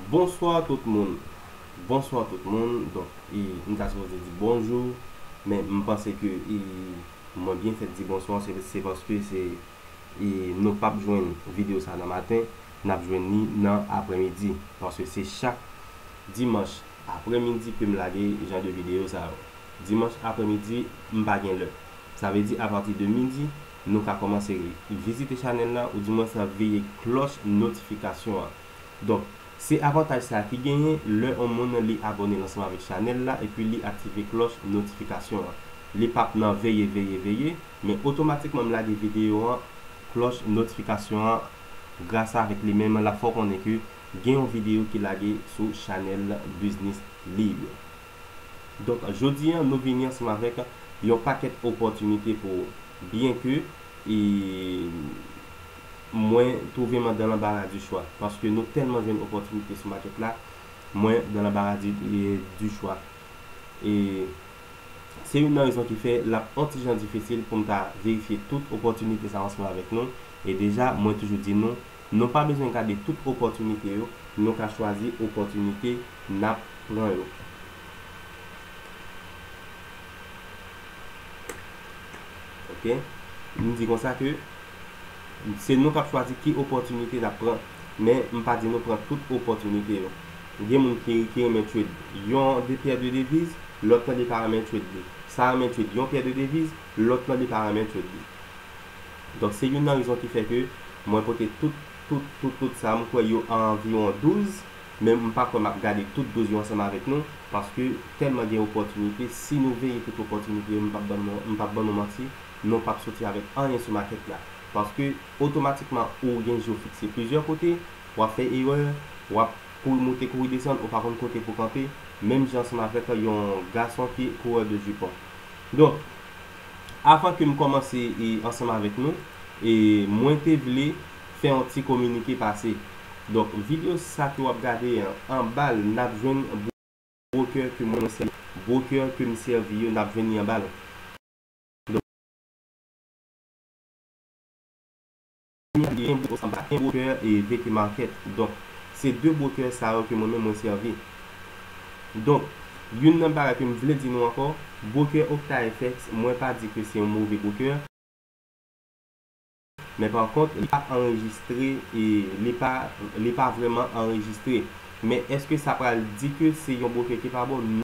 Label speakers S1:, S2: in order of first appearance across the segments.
S1: Bonsoir tout moun Bonsoir tout moun Donk e m ta sipoze di bonjou men m panse ke e mwen byen fèt di bonsoir se paske se e nou pap jwenn video sa nan maten n ap jwenn li nan aprèmidi paske se chak dimanch aprèmidi ke m lage jan de video sa yo dimanch aprèmidi m pa gen lè sa vle di apati de midi Nou ka kòmanse vizite chanèl la ou di mwens veye klòch notifikasyon an. Donk, se avantaj sa a ki genyen lè on moun li abòne l ansanm avèk chanèl la epi li aktive klòch notifikasyon an. Li p ap nan veye, veye, veye, men otomatikman m lage videyo an, klòch notifikasyon an gras avèk li menm l ap fè w konnen ke gen yon videyo ki lage sou chanèl Biznis Lib. Donk jodi an nou vini ansanm avèk yon pakèt opòtinite pou ou. Byen ke e mwen twouve m an dan lanbara di chwa. Paske nou tèlman jwenn opòtinite sou makèt la, mwen dan lanbara di di chwa. E se youn nan rezon ki fè l ap on ti jan difisil pou m ta verifye tout opòtinite sa yo ansanm avèk nou. E deja mwen toujou di nou, Nou pa bezwen gade tout opòtinite yo, nou ka chwazi opòtinite n ap pran yo. Ok. M di konsa ke se nou k ap chwazi ki opòtinite n ap pran, men m pa di nou pran tout opòtinite yo. Gen moun ki ki renmen trade yon de pyè de deviz, lòt nan li pa renmen trade li. Sa renmen trade yon pyè de deviz, lòt nan li pa renmen trade li. Donk se youn nan rezon ki fè ke mwen pote tout, tout, tout, tout sa, m kwè yo an anviwon 12, men m pa kwè m ap gade tout 12 yo ansanm avèk nou, paske tèlman gen opòtinite, si nou veye tout opòtinite yo m pap ban nou, m pap ban nou manti, nou pap soti avèk anyen sou makèt la. Paske otomatikman ou gen je w fikse plizyè kote, w ap fè erè, w ap kouri moute kouri desann, ou pa konn kote pou w kanpe, menm jan ansanm avèk yon gason ki kourè de jipon. Donk. Avan ke m kòmanse ansanm avèk nou, mwen te vle fè yon ti kominike pase. Donk video sa ke wap gade an, anba l nap jwenn broker ke mwen sèvi yo. Broker ke m sèvi yo nap jwenn li anba l. Mwen gen bros anba e broker e VP market donk se 2 broker sa yo ke mwen menm mwen sèvi donk youn nan bagay ke m vle di nou ankò broker OctaFX mwen pa di ke se yon move broker men pa kont li pa anrejistre e li pa li pa vrèman anrejistre men èske sa pral di ke se yon broker ki pa bon?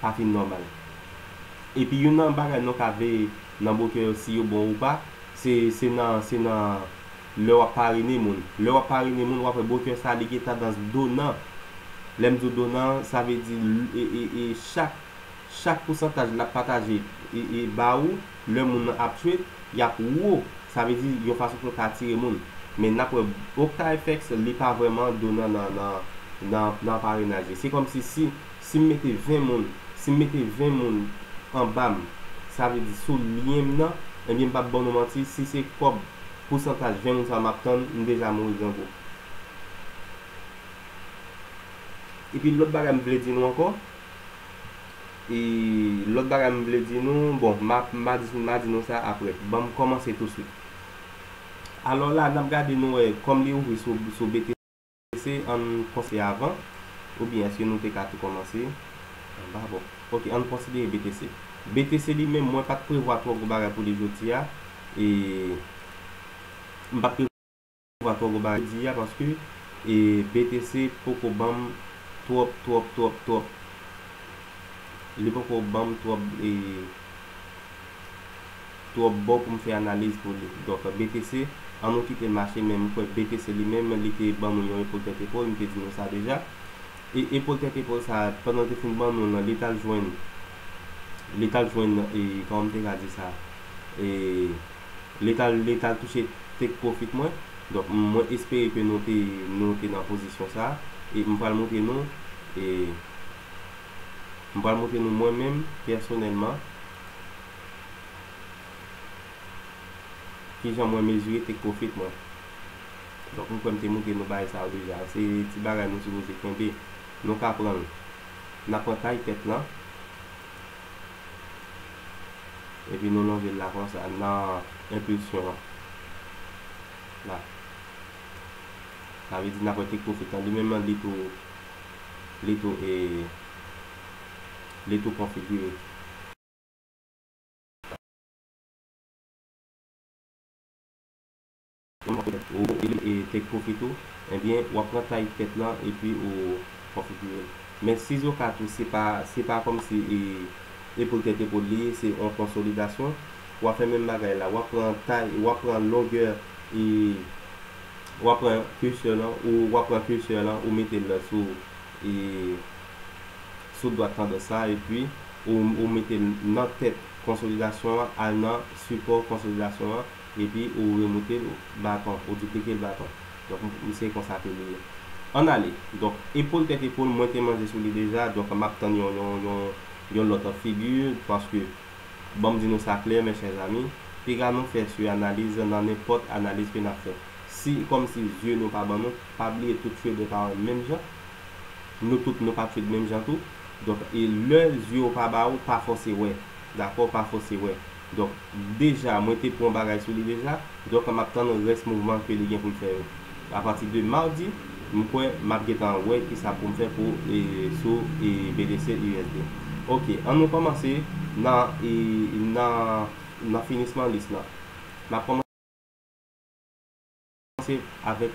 S1: pa fin nòmal. Epi youn nan bagay nou ka veye nan bokè yo si yo bon ou pa, se se nan se nan lè wap parine moun. Lè wap parine moun wap wè bokè sa li gen tandans donan. Lè m di w donan sa vle di e chak chak pousantaj lap pataje e ba ou lè moun nan ap tchwet yap wo. Sa vle di yon fason pou l ka atire moun. Men nap wè Oktayfèks li pa vrèman donan nan nan nan parenaj li. Se kòmsi si Si m mete 20 moun, si m mete 20 moun anba m, sa vle di sou lyen m nan, ebyen m p ap ban nou manti, si se kòb pousantaj 20 moun sa yo m ap tann, m deja mouri grangou. Epi lòt bagay m vle di nou ankò, e lòt bagay m vle di nou, bon, m a m a di nou sa aprè. Ban m kòmanse tousuit. Alò la, n ap gade nou wè, kòm li ouvri sou BTC. Èske ann kòmse avan oubyen èske nou te ka tou kòmanse anba bon ok ann konsidere BTC. BTC li menm mwen pat prevwa twò gwo bagay pou li jodi a e m pat prevwa twò gwo bagay jodi a paske e BTC poko banm twòp twòp twòp twòp li poko banm twòp e twòp bon poum fè analiz pou li. Donk BTC an nou kitel mache men m kwè BTC li menm li te ban nou yon epol tèt epol m te di nou sa deja e epol tèt epol sa pandan l te fin ban nou l lan li tal jwenn li tal jwenn e kòman m te ka di sa e li tal li tal touche take profit mwen donk mwen espere ke nou te nou te nan pozisyon sa e m pral moutre nou e m pral moutre nou mwen menm pèsonèlman. Ki jan mwen mezire take profit mwen? Donk m kwè m te moutre nou bagay sa yo deja. Se ti bagay nou sipoze kenbe. Nou ka pran l. N a pran tay tèt lan. Epi nou lonje l la konsa nan enpilsyon an. La. Sa vle di n ap wè take profit lan. Li menm li tou li tou e li tou konfigire. Ou e take profit ou ebyen wap pran taille tèt lan epi ou konfigirel men sizoka tou se pa se pa kòmsi e epol tèt epol li ye se yon konsolidasyon wap fè menm bagay la wap pran taille wap pran longè e wap pran cursor lan ou wap pran cursor lan ou metel sou e. sou dwat tandans la epi ou mete l nan tèt konsolidasyon an al nan sipò konsolidasyon an epi ou remoute l baton ou diplike l baton donk se konsa ke li ann ale donk epol tèt epol mwen te manje sou li deja donk m ap tann yon lòt figi paske ban m di nou sa klè mes chers amis piga nou fè su analiz nan nenpòt analiz ke n ap fè si kòmsi zye nou pa ban nou pa bliye tout cheve pa menm jan nou tout nou pap fed menm jan tou donk e lè zyew pa ba ou pa fòse wè dakò pa fòse wè donk deja mwen te pwan bagay sou li deja donk map tann rès mouvman ke li gen poul fè yo a pati de mardi m kwè map gentan wè kisa poum fè pou sou BTC usd ok an nou kòmanse nan nan finisman lis lan nap kòmanse avèk.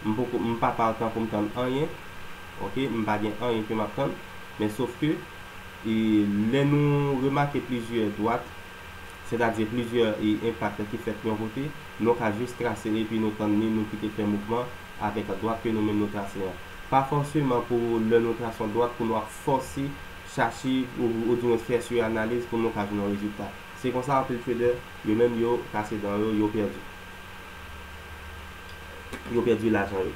S1: M poko m pa pa antan pou m tann anyen ok m pa gen anyen ke m ap tann men sof ke e lè nou remake plizyè dwat sètadi plizyè e enpak ki fèt yon kote nou ka jis trase epi nou tann li nou kite fè mouvman avèk dwat ke nou menm nou trase an pa fòseman pou lè nou trase yon dwat pou nou ap fòse chache ou di mwens fè su analiz pou nou ka jwenn yon rezilta se konsa anpil trader yo menm yo kase dan yo yo pèdi. yo pèdi lajan yo.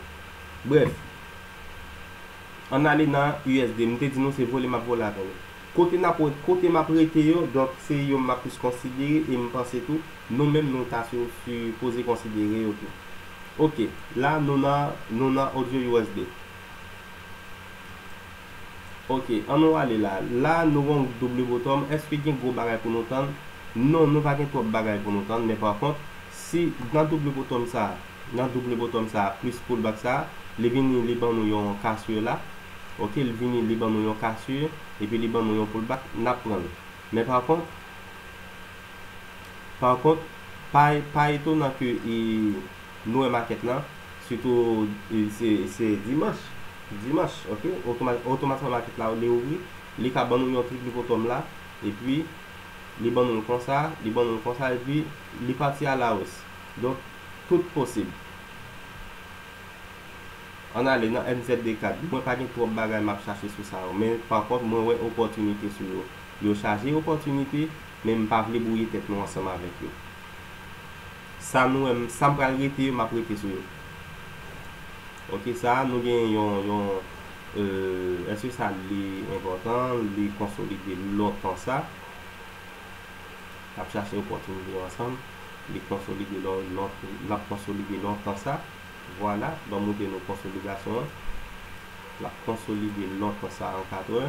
S1: Brèf, ann ale nan USD. M te di nou se vole m ap vole avè nou. Kote n ap wè, kote m ap rete yo, donk se yo m ap plis konsidere e m panse tou nou menm nou ta si sipoze konsidere yo tou. Ok, la nou nan nou nan Audio USD. Ok an nou ale la. La nou wè yon double bottom eske gen gwo bagay pou nou tann? Non nou pa gen twòp bagay pou nou tann men pa kont si nan double bottom sa nan double bottom sa plis pull back sa li vini li ban nou yon cassure la ok li vini li ban nou yon cassure epi li ban nou yon pull back nap pran l men pa kont pa kont pa etonan ke Nou wè makèt lan, sitou se dimanch, dimanch ok, otomatikman makèt la li ouvri, li ka ban nou yon triplipotom la, epi li ban nou l konsa, li ban nou l konsa epi li pati a la os. Donk tout posib. Ann ale nan MZD4, mwen pa gen twòp bagay m ap chache sou sa yo, men pa kont mwen wè opòtinite sou yo. Yo chaje opòtinite, men m pa vle bwouye tèt nou ansanm avèk yo. Sa nou wèm sa m pral rete yo map rete sou yo ok sa nou gen yon yon euh eske sa li enpòtan li konsolide lontan sa nap chache opòtinite ansanm li konsolide lap konsolide lontan sa vwala banm moutre nou konsolidasyon an lap konsolide lontan sa an 4 è.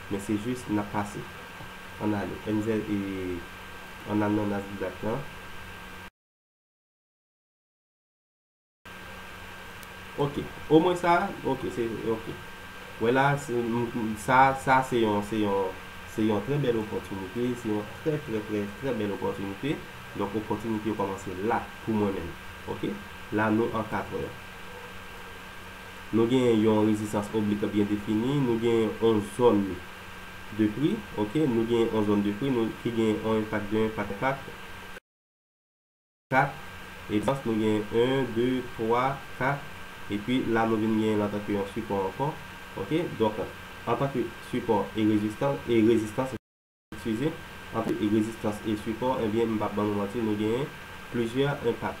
S1: Men se jis nap pase. Ann ale. Enzel e Anananas Boulat lan. Ok. O mwen sa a? Ok se ok. Wè la a se sa a sa a se yon se yon se yon trè bèl opòtinite, se yon trè trè trè trè bèl opòtinite. Donk opòtinite yo kòmanse la pou mwen menm. Ok. La nou ankadre. Nou genyen yon rezistans oblik byen defini, nou genyen yon zòn de pri, ok, nou genyen yon zòn de pri nou ki genyen yon enpak 2 enpak 4, e pi nou genyen 1 2 3 4, e pi la nou vin genyen l antanke yon sipò ankò, ok, donk antanke sipò e rezistans. Refize, anpil e rezistans e sipò ebyen m pap ban nou manti nou genyen plizyè enpak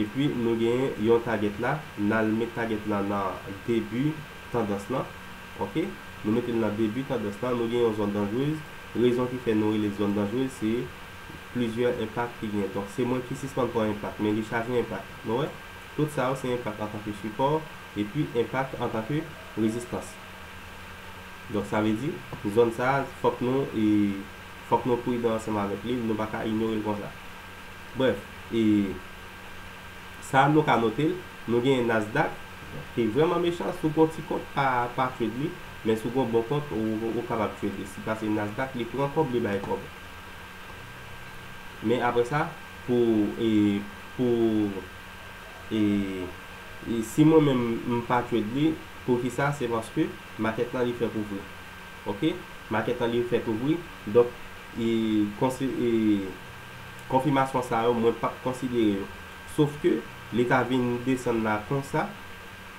S1: epi nou genyen yon tagèt la nal met tagèt lan nan debi tandans lan ok nou metel nan debi tandans lan nou gen yon zòn danjrez rezon ki fè nou rele zòn danjrez se plizyè enpak ki genyen donk se mwen ki sispann pran enpak men li chaje enpak nou wè tout sa yo se enpak antanke sipò epi enpak antanke rezistans. Donk sa vle di, zòn sa a, fòk nou, fòk nou pridan ansanm avèk li, nou pa ka inyore l konsa. Brèf, e sa a nou ka note l, nou genyen Nasdaq ki vrèman mechan, si w gen yon ti kont pa pa trade li, men si w gen yon bon kont ou kapab trade li, si pase Nasdaq li pran kòb li bay kòb. Men aprè sa pou pou. E si mwen menm m pa trade li poukisa se paske market lan li fè kouvri ok market lan li fè kouvri donk e e konfimasyon sa yo mwen pap konsidere yo sof ke li ta vin desann la konsa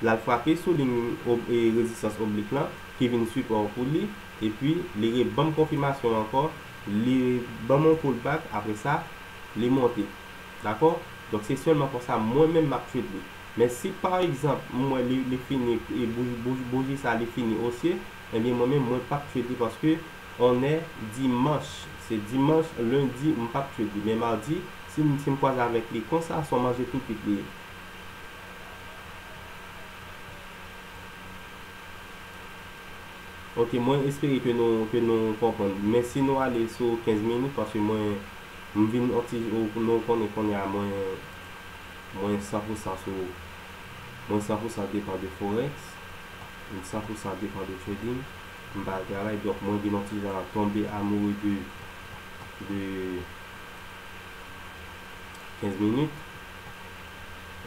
S1: lal frape sou liy rezistans oblik lan ki vin sipò pou li epi li re banm konfimasyon ankò li banm yon pull back apresa li monte Dakò? Donk se sèlman konsa mwen menm m'ap treat li. Men si pa egzanp m wè li li fini e bouji bouji sa li fini osye, ebyen mwen menm mwen pap treat li paske on è dimanch, se dimanch, lendi m pap treat li men mardi si m si m kwaze avèk li konsa son manje tou kwit li ye. Ok mwen espere ke nou ke nou konprann men si nou ale sou 15 minit paske mwen M vin on ti nou konnen kounye a mwen mwen san pou san sou mwen san pou san depan de forex m san pou san depan de trading m pa al travay donk mwen vin on ti jan tonbe amoureux de de 15 minutes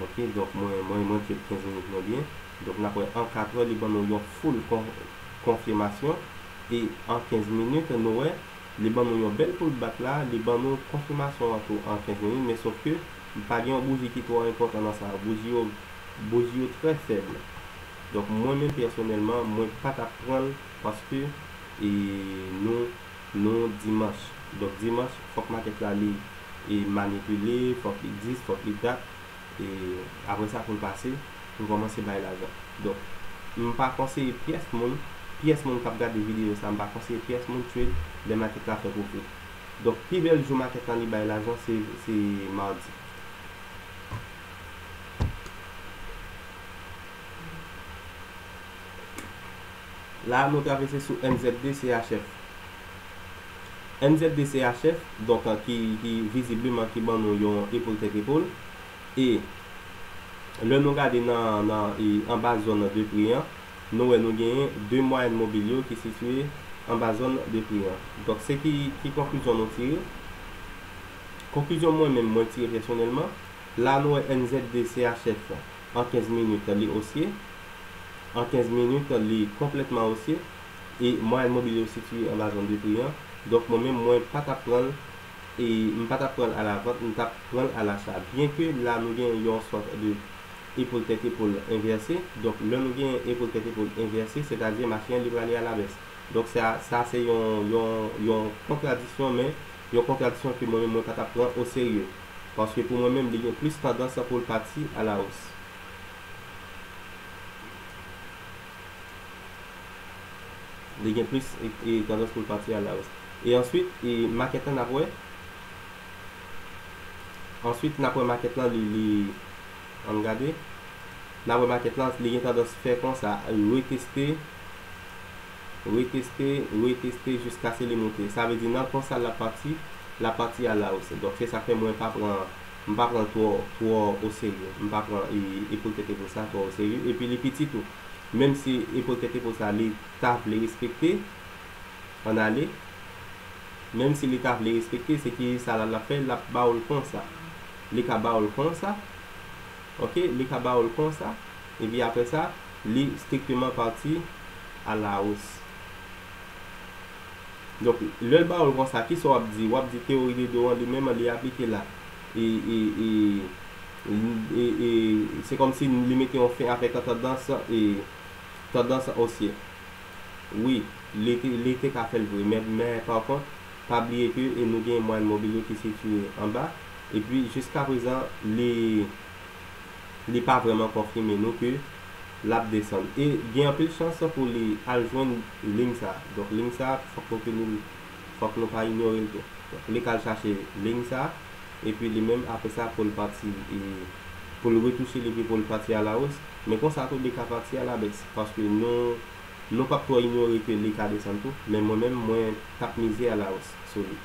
S1: ok donk mwen mwen mwen trade 15 minutes mwen byen donk nap wè an 4 heures li ban nou yon full konfimasyon e an 15 minutes nou wè Li ban nou yon bèl poul bat la, li ban nou konfimasyon an tou an 15 minit men sof ke m pa gen yon bouji ki twò enpòtan nan sa yo, bouji yo bouji yo trè fèb. Donk mwen menm pèsonèlman mwen pa t ap pran l paske e nou nou dimanch. Donk dimanch fòk makèt la li e manipile, fòk li dis, fòk li dat. E apre sa pou l pase, pou l kòmanse bay lajan. Donk, m pa konseye pyès moun, pyès moun k ap gade videyo sa a, m pa konseye pyès moun trade lè makèt la fè gwo pri. Donk, pi bèl jou makèt lan li bay lajan se se madi. La a nou travese sou NZDCHF. NZDCHF, donk ki vizibleman ki ban nou yon epol tèt epol. E lè nou gade nan nan e anba zòn de pri an, nou wè nou genyen 2 mwayèn mobil yo ki sitiye anba zòn de pri an. Donk se ki ki konklizyon nou tire? Konklizyon mwen menm mwen tire pèsonèlman, la a nou wè NZDCHF. an 15 minit li osye, an 15 minit li konplètman osye, e mwayèn mobil yo sitiye anba zòn de pri an, donk mwen menm mwen pa t ap pran l, e m pa t ap pran l alavant, m t ap pran l alacha. Byen ke la nou gen yon sòt de epol tèt epol envèse, donk lè nou gen epol tèt epol envèse, sètadi mache an li prale alabès. Donk sa, sa se yon, yon, yon kontradisyon, men yon kontradisyon ke mwen menm mwen pa t ap pran oserye. paske pou mwen menm li gen plis tandans pou l pati a la hausse. Li gen plis tandans pou l pati a la hausse. E answit e makèt lan n ap wè. Answit n ap wè makèt lan li li ann gade. N ap wè makèt lan li gen tandans fè konsa reteste. reteste, reteste jiskase li moute. Sa vle di nan konsa lap pati, lap pati a la osi. Donk se sak fè mwen pa pran, m pa pran twò, twò o serye. M pa pran e epol tèt epo sa twò o serye. Epi li piti tou. Menm si epol tèt epo sa li ta vle respekte, an ale. Menm si li ta vle respekte, se ki sa la lap fè, lap ba ou l konsa. Li ka ba ou l konsa, ok, li ka ba ou l konsa. epi apre sa, li strikteman pati a la os. Donk, lè l ba ou l konsa, ki sa w ap di? W ap di teyori de do an li menm li aplike la. E, e, e, e, e, se kòmsi li mete yon fen avèk tandans, e, tandans osye. Wi, li te, li te ka fè l vre. Men, men pa kont, pa bliye ke nou gen mwayèn mobil yo ki sitiye anba, epi jiskaprezan li li pa vrèman konfime nou ke lap desann e gen anpil chans pou li al jwenn ling sa donk ling sa fòk nou tenil fòk nou pa inyorel tou donk li ka al chache ling sa epi li menm apre sa poul pati poul retouchel epi poul pati a la hausse men konsa tou li ka pati a la baisse paske nou nou pap twò inyore ke li ka desann tou men mwen menm mwen tap mize a la hausse sou li.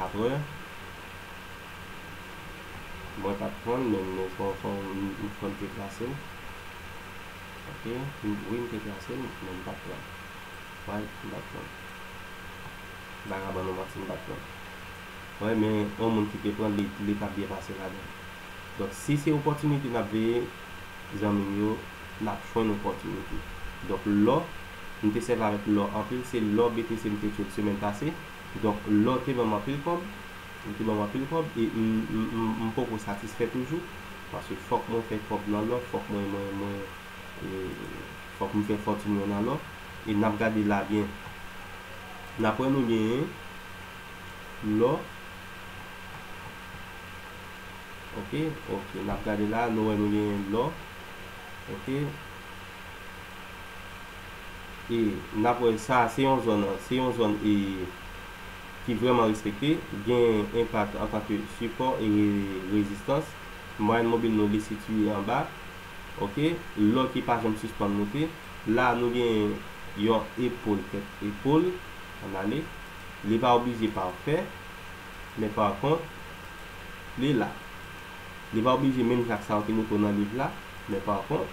S1: Apre Mwen pat pranl men m kwè m te klasel Ok wi m te klasel men m pat pranl Why m pat pranl Vagabon ou manti m pat pranl Why men yon moun ki te pranl li tap byen pase ladann Donk si se opòtinite nap veye zanmi m yo nap jwenn opòtinite Donk lò m te sèvi avèk lò anpil se lò BTC m te tchwel semèn pase. Donk lè w te ban m anpil kòb, ou te ban m anpil kòb e m poko satisfè toujou paske fòk mwen fè kòb nan lò, fòk mwen mwen mwen fòk m fè fòtin mwen nan lò e n ap gade la byen n ap wè nou genyen lò ok ok n ap gade la nou wè nou genyen lò ok. e nap wè sa se yon zòn se yon zòn e ki vrèman respekte gen enpak antanke sipò e rezistans mwayèn mobil nou li sitiye anba ok lò ki pa janm sispann moute la nou gen yon epol tèt epol ann ale li pa oblije pafè men pa kont li la li pa oblije menm jan ak sa yo te moute w nan liv la men pa kont.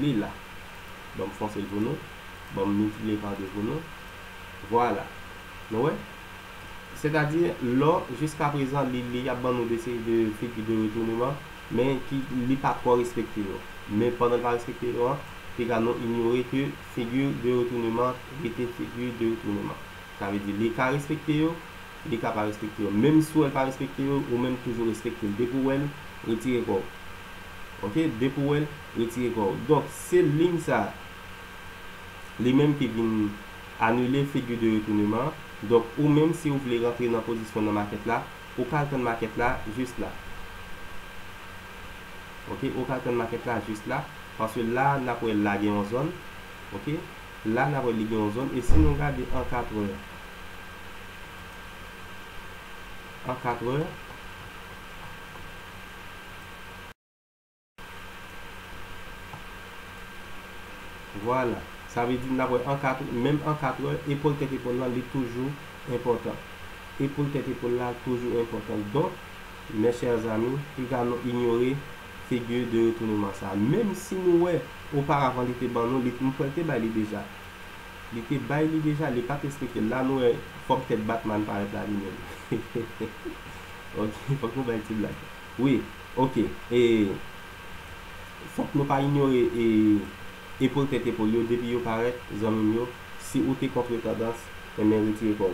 S1: Li la. Ban m fonse l pou nou. Ban m mitile pa 2 pou nou. Vwala. Nou wè? Sètadi, lò, jiskaprezan, li, li ap ban nou de seri de figi de retouneman, men ki, li pa twò respekte yo. Men pandan l pa respekte yo an, piga nou inyore ke figi de retouneman rete figi de retouneman. Sa vle di, li ka respekte yo, Li ka pa respekte yo menm si w wè l pa respekte yo ou menm toujou respekte l depi w wè l retire kò w ok depi w wè l retire kò w donk se liy sa li menm ki vin anile figi de retouneman an donk ou menm si w vle rantre nan pozisyon nan makèt la ou ka al tann makèt la jis la ok ou ka al tann makèt la jis la paske la nap wè la gen yon zòn ok. La nap wè li gen yon zòn e si nou gade an 4 è an 4 è vwala sa vle di nap wè an 4 è menm an 4 è epòl tèt epòl la li toujou enpòtan epòl tèt epòl la toujou enpòtan donk mes chers amis piga nou inyore figure de retournement sa menm si nou wè oparavan li te ban nou li m kwèl te bay li deja li te bay li deja li pat esplikel la nou wè fòm tèt Batman parèt la li menm hehehe ok fòk nou bay ti blag wi ok e fòk nou pa inyore e epol tèt epol yo depi yo parèt zanmim yo si ou te kontre tandans enben retire kòw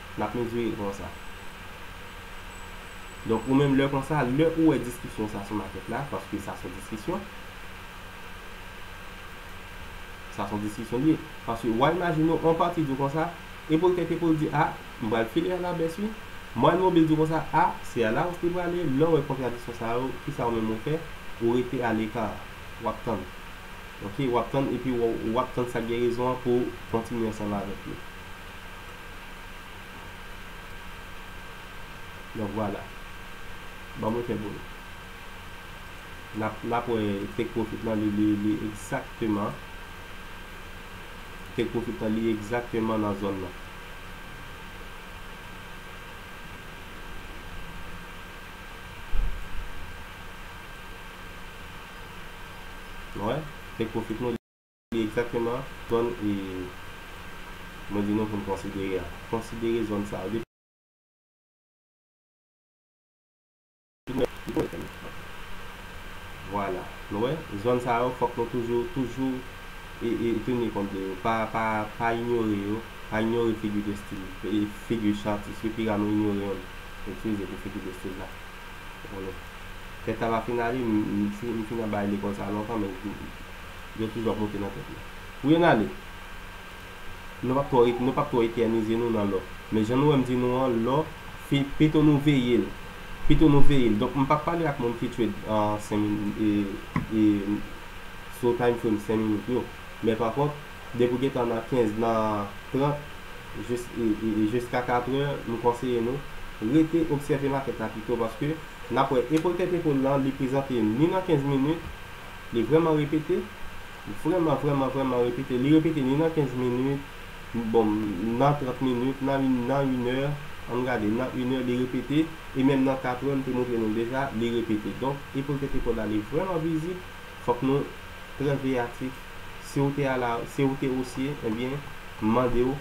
S1: Nap mezire konsa. Donk ou menm lè konsa, lè ou wè diskisyon sa sou makèt la, paske sa son diskisyon. Sa son diskisyon li ye. Paske wa imajine w, on pati di w konsa, epou l tèt epou l di a, m pral file a la bès wi. Moann mobil di w konsa a, se a la wous li prale, lè w wè kontradiksyon sa yo, kisa ou menm ou fè, ou rete a leka, wap tann. Ok, wap tann epi wap tann sak gen rezon an pou w kontinye ansanm avèk li. Donk vwala. Ban mwen fè pou nou. Nap nap wè take profit lan li li li egzakteman take profit lan li egzakteman nan zòn nan. Nou wè take profit nou. Ki egzakteman zòn mwen di nou pou n konsidere a? Konsidere zòn sa yo. Vwala. Nou wè? Zòn sa yo fòk nou toujou, toujou teni kont de yo. Pa inyore yo. Pa inyore figi de stil, figi chan atis yo. Pi ra nou inyore yon. Itilize pou figi de stil la. Alò, fèt la pa fin ale, m fin anba e lekòl sa a lontan men yo toujou ap monte nan tèt mwen. Pou yo n ale, nou p ap twò etènize nou nan lò. Men jan nou wè m di nou an, lò, pito nou veye l. Pito nou veye l. Donk m p ap pale ak moun ki trade an 5 minit, sou time frame 5 minit yo. Men pa kont. depi w gentan nan 15 nan 30 jis e jiska 4 è m konseye nou rete obsève makèt la pito paske n ap wè epol tèt epol lan li prezante ni nan 15 minit li vrèman repete vrèman vrèman vrèman repete li repete ni nan 15 minit bon nan 30 minit nan nan inè an n gade nan inè li repete e menm nan 4 è m te montre nou deja li repete donk epol tèt epol la li vrèman vizib fòk nou trè veyatif. Si ou te ala si ou te osye ebyen m mande w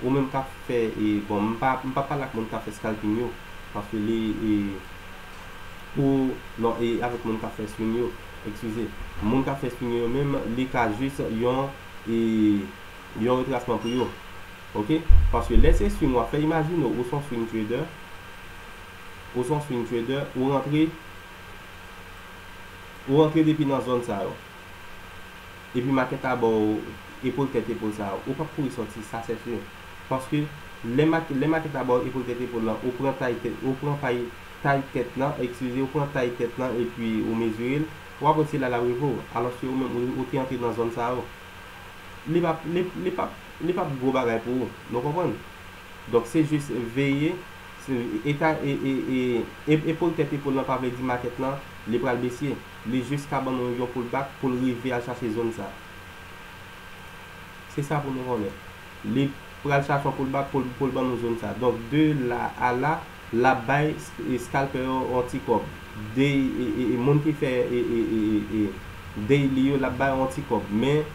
S1: ou menm kap fè e bon m pa m pap pale ak moun kap fè scalping yo paske li e pou non e avèk moun kap fè swing yo ekskize moun kap fè swing yo menm li ka jis yon e yon retrasman pou yo ok paske lè se swing wap fè imajine w ou son swing trader ou son swing trader ou rantre ou rantre depi nan zòn sa yo. epi makèt la ba w epol tèt epol sa a, ou p ap kouri sòti, sa sèten. Paske, lè makè, lè makèt la ba w epol tèt epol lan, ou pran tay tèt, ou pran pay, tay tèt lan, ekskize, ou pran tay tèt lan epi ou mezire l, w ap wè se la l ap rive w. Alòske ou menm, ou, ou te antre nan zòn sa yo. Li p ap, li, li p ap, li p ap gwo bagay pou ou. Nou konprann? Donk, se jis veye, se, eta, e, e, e, e, epol tèt epol lan pa vle di makèt lan, li pral besye. li jis ka ban nou yon pull back pou l rive al chache zone sa. Se sa pou nou konnen. Li pral chache yon pull back pou l pou l ban nou zone sa. Donk de la a la, l ap bay scalper yo yon ti kòb. Day e moun ki fè e daily yo l ap bay yo yon ti kòb. Men,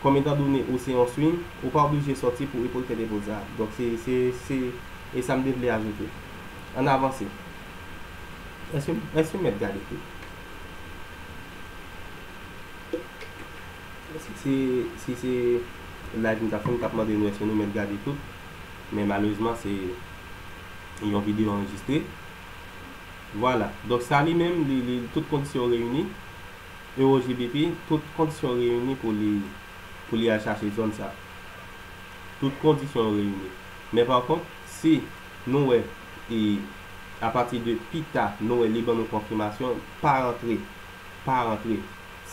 S1: kòm etan done ou se yon swing, ou pa oblije sòti pou e pou l fè de pull sa. Donk se se e sa m te vle ajoute. An n avanse. Eske met gade fim. Si se live nou tap fè nou tap mande nou eske nou met gade tout men malezman se yon video anrejistre vwala donk sa li menm li tout kondisyon reyini eurogpt tout kondisyon reyini pou li al chache zòn sa tout kondisyon reyini men pa kont si Nou wè e a pati de pita nou wè li ban nou konfimasyon pa rantre pa rantre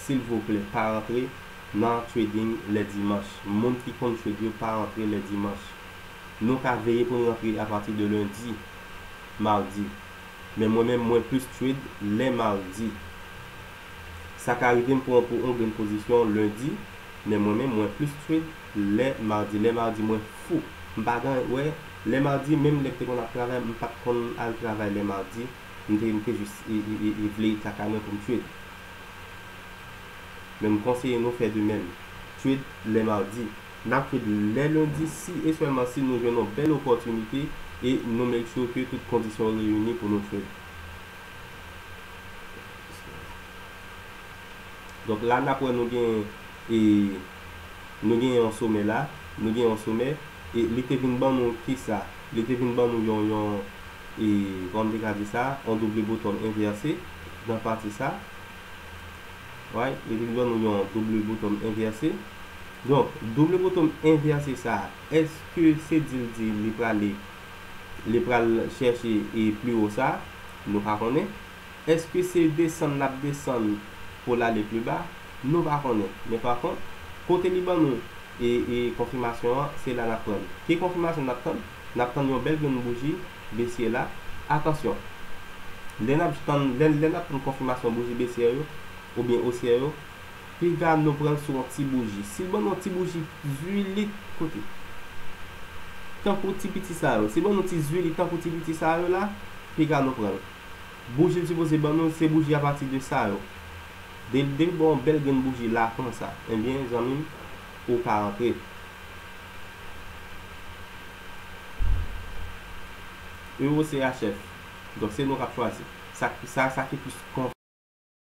S1: silvouplè pa rantre nan trading lè dimanch moun ki konn trade yo pa rantre lè dimanch nou ka veye poun rantre a pati de lundi mardi men mwen menm mwen plis trade lè mardi sa ka rivem pran pou on grenn pozisyon lundi men mwen menm mwen plis trade Lè mardi lè mardi mwen fou m pa gan wè lè mardi menm lè m te konn ap travay m pat konn al travay lè mardi m te m te jis vle e kaka mwen pou m tued men m konseye nou fè de menm tued lè mardi n ap tued lè lundi si e sèlman si nou jwenn yon bèl opòtinite e nou make sure ke tout kondisyon reyini pou nou tued donk la n ap wè nou gen e. Nou gen yon somè la, nou gen yon somè, e li te vin ban nou kisa? Li te vin ban nou yon, yon, e, kòman m te ka di sa, yon double bottom envèse, nan pati sa. Right? Li vin ban nou yon double bottom envèse. Donk, double bottom envèse sa, èske se di l di li prale, li pral chèche e pi wo sa? Nou pa konnen. Èske se desann n ap desann pou l ale pli ba? Nou pa konnen. Men pa kont, kote li ban nou konfimasyon an, se la n ap pran l. Ki konfimasyon n ap tann? N ap tann yon bèl grenn bouji Besye la. Atansyon! Lè n ap tann, lè n ap tann konfimasyon bouji Besye yo, oubyen Osye yo, piga nou pran l sou yon ti bouji. Si l ban nou yon ti bouji zuilit, koute! Tankou ti piti sa yo. Si l ban nou ti zuilit tankou ti piti sa yo la, piga nou pran l. Bouji l sipoze ban nou se bouji apati de sa yo. Delde ba w yon bèl grenn bouji la konsa. Enbyen zanmi m ou ka antre. Euro CHF. Donk se nou k ap chwazi. Sa sa ki plis.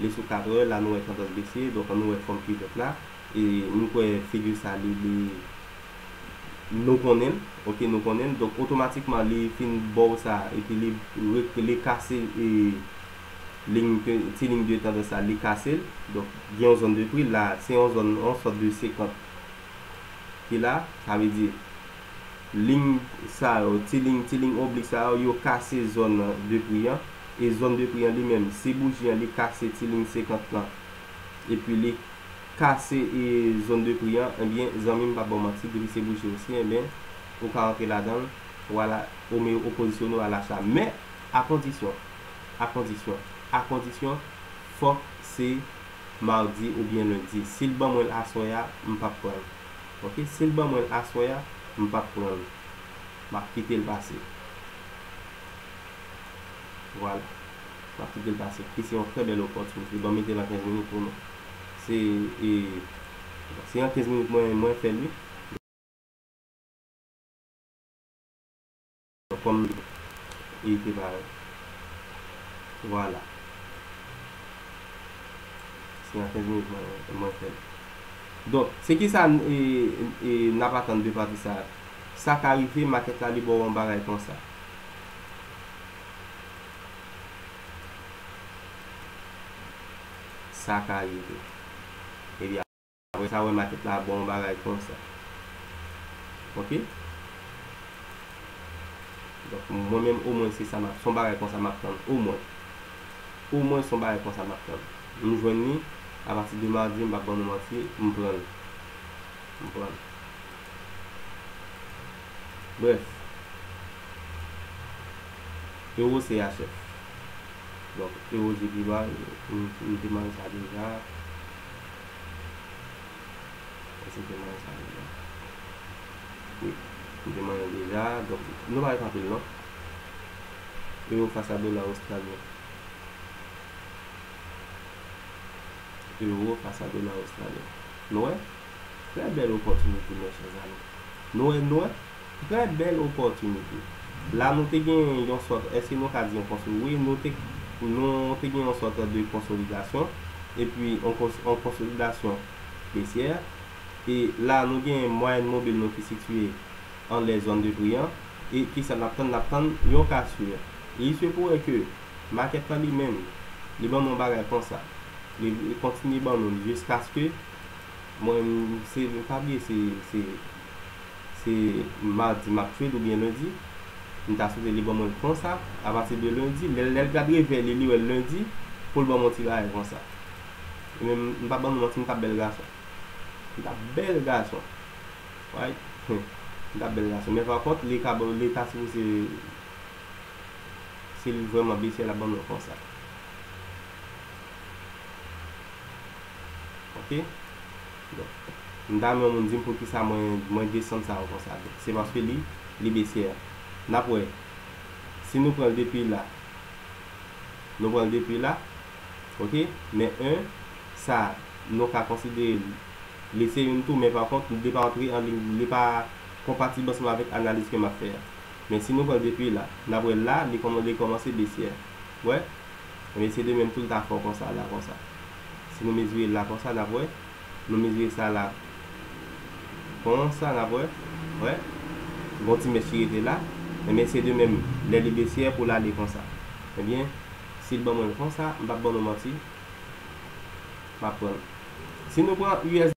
S1: li sou 80 la nou wè tandans besiye donk an nou wè fòm kivèt la e m kwè figure sa li li nou konnen l ok nou konnen l donk otomatikman li fin baw sa epi li rek li kase e lign ke ti lign de tandans sa li kase l donk gen yon zòn de pri la se yon zòn yon sòt de 50 ki la sa vle di. Ling sa yo, ti ling, ti ling oblik sa yo, yo kase zòn de pri an, e zòn de pri an li menm, si bouji an li kase ti ling 50 lan, epi li kase e zòn de pri an, ebyen zanmi m pa ba w manti, depi se bouji osye, ebyen ou ka antre ladan l, w al a, ou me ou pozisyone w al acha. Men, a kondisyon, a kondisyon, a kondisyon, fòk se madi oubyen lendi. Si l ban mwen l aswè a, m p ap pran l. Ok sil ban mwenl aswè a m pap pranl map kitel pase vwala map kitel pase ki se yon trè bèl opòtinite banm metel an 15 minit pou nou se e se an 15 minit mwen mwen fèl wi. Kòm li te parèt. Vwala. Se an 15 minit mwen fè l. Donk, se ki sa n ap atann de pati sa a? Sa ka rive makèt la li ba w yon bagay konsa. Sa ka rive. Ebyen. Mwen ta wè maket la bon bagay konsa ok donk mwen menm omwen se sa map son bagay konsa map tann omwen omwen son bagay konsa map tann m jwenn li apati de mardi m pap ban nou manti m pran l m pran l brèf euro chf donk euro jedi m te manj sa deja. Ese te manyen sa deja. Wi. Li te manyen deja. Donk, nou pa ret anpil non. Euro fas a dola ostralyen. Euro fas a dola ostralyen. Nou wè? Trè bèl opòtinite, mè chè zanmi. Nou wè, nou wè? Trè bèl opòtinite. La nou te gen yon sòt, èske nou ka di yon kons, wi, nou te, nou te gen yon sòt de konsolidasyon, epi yon kons, yon konsolidasyon besyè. E la nou gen mwayèn mobil nou ki sitiye anlè zòn de pri an. E kisa n ap tann? N ap tann yon kasur. Il se pourrait que makèt la li menm, li ban nou yon bagay konsa. Li, li kontinye ban nou li jiskaske mwen, se, m pa bliye se, se. Se mardi map trade oubyen lundi? M ta swete li ban mwen l konsa apati de lundi lè lè l gad revèy li li wè l lundi poul ban mwen yon ti bagay konsa e menm m pap ban nou manti m tap bèl gason m tap bèl gason wy humm m tap bèl gason men pa kont li ka li ta sipoze si l vrèman besye lap ban mwen konsa ok. Mta renmen yon moun dim poukisa mwen mwen desann sa konsa se paske li li baissière nap wè si nou pranl depi la nou pranl depi la ok men 1 sa nou ka konsidere li se youn tou men pa kont li pa antre an liy li pa konpatib ansanm avèk analiz ke map fè a men si nou pranl depi la nap wè la li kòmanse baissière wè ebyen se de menm tou li ta fè w konsa la konsa. Si nou mezire l la konsa n ap wè. Nou mezire sa la konsa n ap wè. Wè? Gen yon ti mèch ki rete la. Enben, se de menm lè Lebesye pou l ale konsa. Enben, si l ban mwen l konsa, m p ap ban nou manti, m ap pran l. Si nou pran us.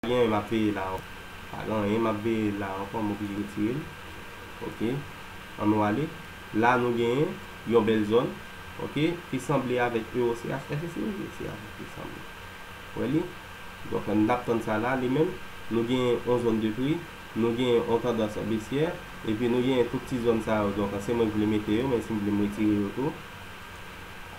S1: Pa gen anyen map veye la anko. Pa gen anyen map veye la anko m oblije retire l ok an nou ale la nou gen yon bèl zòn ok ki sanble avèk EOCH èske se EOCH li sanble wè li donk an nap tann sa la li menm nou gen yon zòn de pri nou gen yon tandans besyè epi nou gen tout ti zòn sa yo donk se mwen k vle mete yo menm si m vle m retire yo tou.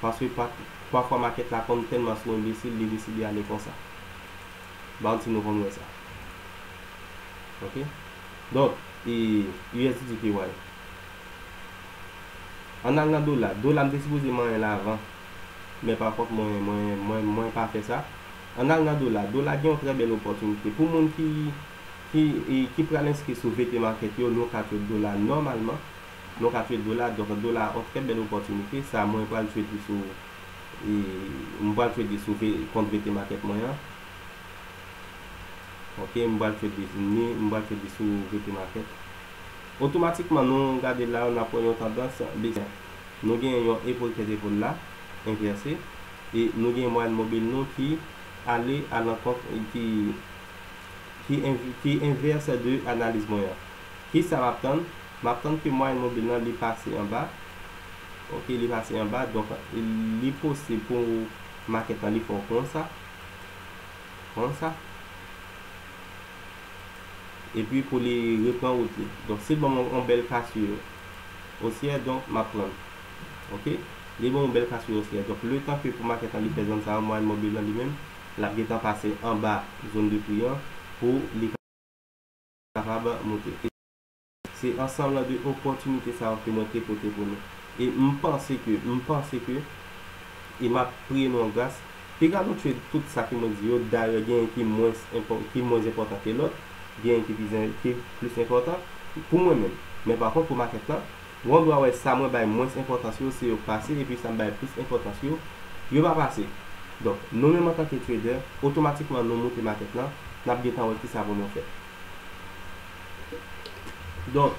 S1: Paske pafwa makèt la konn tèlman sou enbesil li deside ale konsa. Bounty nou konn wè sa. Ok. Donk e usddpy. Ann al nan dola. Dola m te sipoze manyen l avan. Men pakont mwen mwen mwen pa fè sa. Ann al nan dola. Dola gen yon trè bèl opòtinite. Pou moun ki ki pral enskri sou VPmarket yo nou ka trade dola nòmalman. Nou ka trade dola donk dola a on trè bèl opòtinite sa mwen pral trade li sou mwen pral trade li sou kont VT market mwen an ok mwen pral trade li ni mwen pral trade li sou VT market otomatikman nou gade la nap wè yon tandans bese nou gen yon epol tèt epol la envèse e nou gen mwayèn mobil nou ki ale a lankont ki ki envèse de analiz mwen an kisa map tann. Map tann ke mwayèn mobil lan li pase anba ok li pase anba donk li posib pou makèt lan li fò konsa konsa epi pou li repran wout li donk sil banm yon bèl kasur osyè donk map prann ok li banm yon bèl kasur osyè donk letan ke pou makèt lan li fè zòn sa yo mwayèn mobil lan li menm lap gentan pase anba zòn de pri an pou li kapab moute. Se ansanm de opòtinite sa yo ke mwen te pote pou nou. E m panse ke, m panse ke, e m ap priye nou an gras, piga nou tchwe tout sa ke mwen di yo, dayè genyen ki mwens enpò, ki mwens enpòtan ke lòt, genyen ki pi, ki plis enpòtan, pou mwen menm. Men pa kont pou makèt lan, wan dwa wè sa mwen bay mwens enpòtans yo, se yo k pase, epi sa m bay plis enpòtans yo, yo pa pase. Donk, nou menm antanke trader, otomatikman nou moute makèt lan, n ap gentan wè kisa pou nou fè. Donk,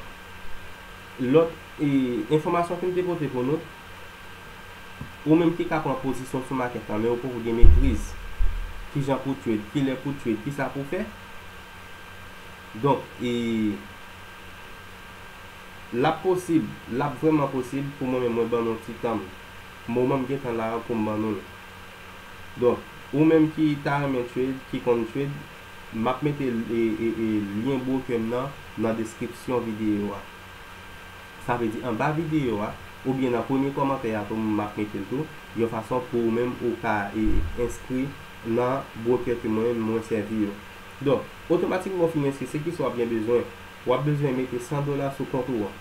S1: lòt enfòmasyon ke m te pote pou nou, ou menm ki ka pran pozisyon w sou makèt la, men ou poko gen metriz, ki jan pou w trade, ki lè pou w trade, ki sa pou w fè. Donk, e, l ap posib, l ap vrèman posib pou mwen menm mwen ban nou yon ti tan m, moman m gen tan la a pou m ban nou l. Donk, ou menm ki ta renmen trade, ki konn trade. Map mete lyen broker m nan nan deskripsyon videyo a. Sa vle di anba videyo a oubyen nan premye kòmantè a tou map mete l tou yon fason pou ou menm ou ka enskri nan broker ke mwen menm mwen sèvi yo. Donk, otomatikman ou fin enskri se kisa wap gen bezwen? Wap bezwen mete 100 dola sou kont ou an.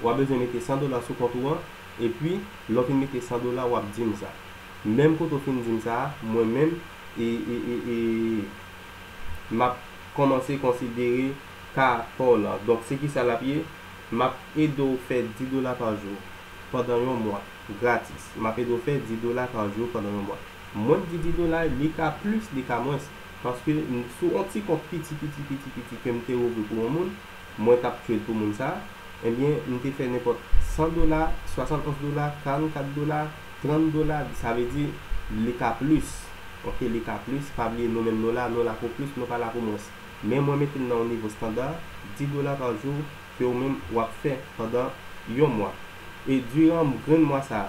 S1: Wap bezwen mete 100 dola sou kont ou an epi lè w fin mete 100 dola wap di m sa. Menm kote w fin di m sa a mwen menm e e e e map kòmanse konsidere ka paw lan donk se kisa lap ye map edew fè 10 dola pa jou pandan yon mwa gratis map edew fè 10 dola pa jou pandan yon mwa mwen t di 10 dola li ka plis li ka mwens paske m sou on ti kont piti piti piti piti kem te ouvri pou on moun Mwen tap tchwel pou moun sa. Ebyen m te fè nenpòt 100 dola, 71 dola, 44 dola, 30 dola sa vle di li ka plis ok li ka plis pa bliye nou menm nou la nou la pou plis nou pa la pou mwens men mwen mete l nan yon nivo standard 10 dola pa jou ke ou menm wap fè pandan yon mwa. E diran grenn mwa sa a,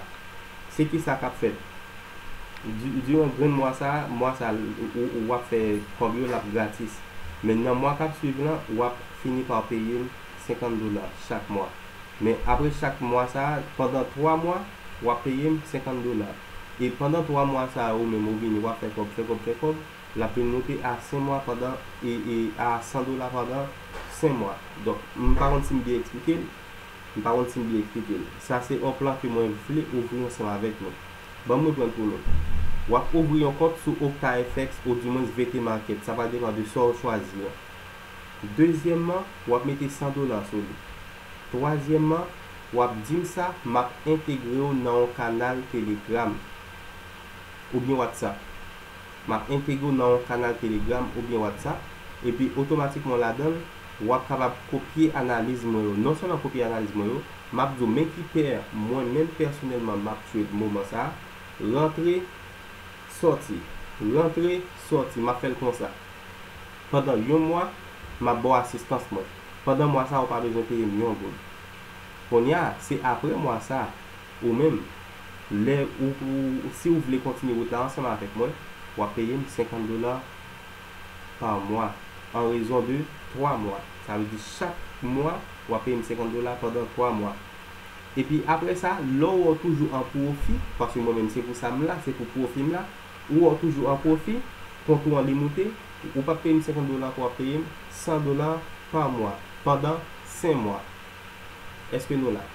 S1: se ki sa k ap fèt? Di, diran grenn mwa sa a, mwa sa a, ou, ou ap fè kòb yo, l ap gratis. Men nan mwa k ap suiv lan, w ap fini pa peye m senkant dola chak mwa. Men apre chak mwa sa a, pandan twa mwa, w ap peye m senkant dola. E pandan twa mwa sa a ou menm ou vini, w ap fè kòb, fè kòb, fè kòb, l ap vin moute a sen mwa pandan, e, e, a san dola pandan sen mwa. Donk, m pa konn si m byen eksplike l. M pa konn si m byen eksplike l. Sa se yon plan ke mwen vle ouvri ansanm avèk nou. Ban m reprann pou nou. W ap ouvri yon kont sou OKFX oudimwens VT Market, sa va depan de sa w chwazi an. Dezyèmman, w ap mete 100 dola sou li. Twazyèmman, w ap di m sa, m ap entegre w nan yon kanal Telegram oubyen WhatsApp. M ap entegre w nan yon kanal Telegram oubyen WhatsApp, epi otomatikman ladan l, w ap kapab kopye analiz mwen yo. Non sèlman kopye analiz mwen yo, m ap di w men ki pè mwen menm pèsonèlman m ap trade moman sa a, rantre, sòti, rantre, sòti, m ap fè l konsa. Pandan yon mwa, m ap ba w asistans mwen. Pandan mwa sa a ou pa bezwen peye m yon goud. Kounye a, se aprè mwa sa a. Ou menm, lè ou, si ou vle kontinye wout la ansanm avèk mwen, w ap peye m 50 dola pa mwa an rezon de twa mwa. Sa vle di chak mwa w ap peye m 50 dola pandan twa mwa. Epi apre sa, lè w wè w toujou an pwofi, paske mwen menm se pou sa m la, se pou pwofi m la, ou wè w toujou an pwofi, kont ou an li moute, ou p ap peye m 50 dola ankò, w ap peye m 100 dola pa mwa pandan 5 mwa. Èske nou la?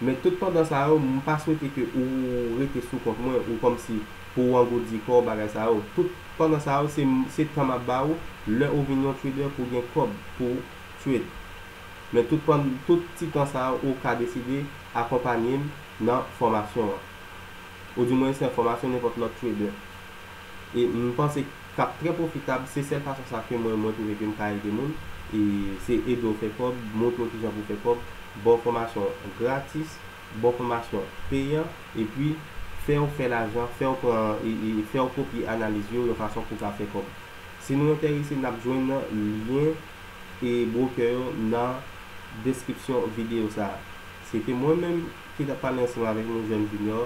S1: Men tout pandan sa yo, m pa swete ke ou rete sou kont mwen ou kòmsi pou ou angoudi kò w bagay sa yo. Tout pandan sa yo, se m, se tan m ap ba ou, lè ou vin yon trader pou gen kòb pou w trade. Men tout pan, tout ti tan sa yo ou ka deside akonpanye m nan fòmasyon an. Ou di mwen se fòmasyon nenpòt lòt trader. E m panse k ap trè pwofitab, se sèl fason sa ke mwen mwen twouve ke m ka ede moun, e se ede w fè kòb, montre w ki jan pou w fè kòb, ba w fòmasyon gratis, ba w fòmasyon peyan, epi fè w fè lajan, fè w pran, fè w kopye analiz yo yon fason pou w ka fè kòb. Si nou enterese n ap jwenn lyen e bwokè yo nan deskripsyon videyo sa a. Se te mwen menm ki t ap pale ansanm avèk nou Jèn Junior,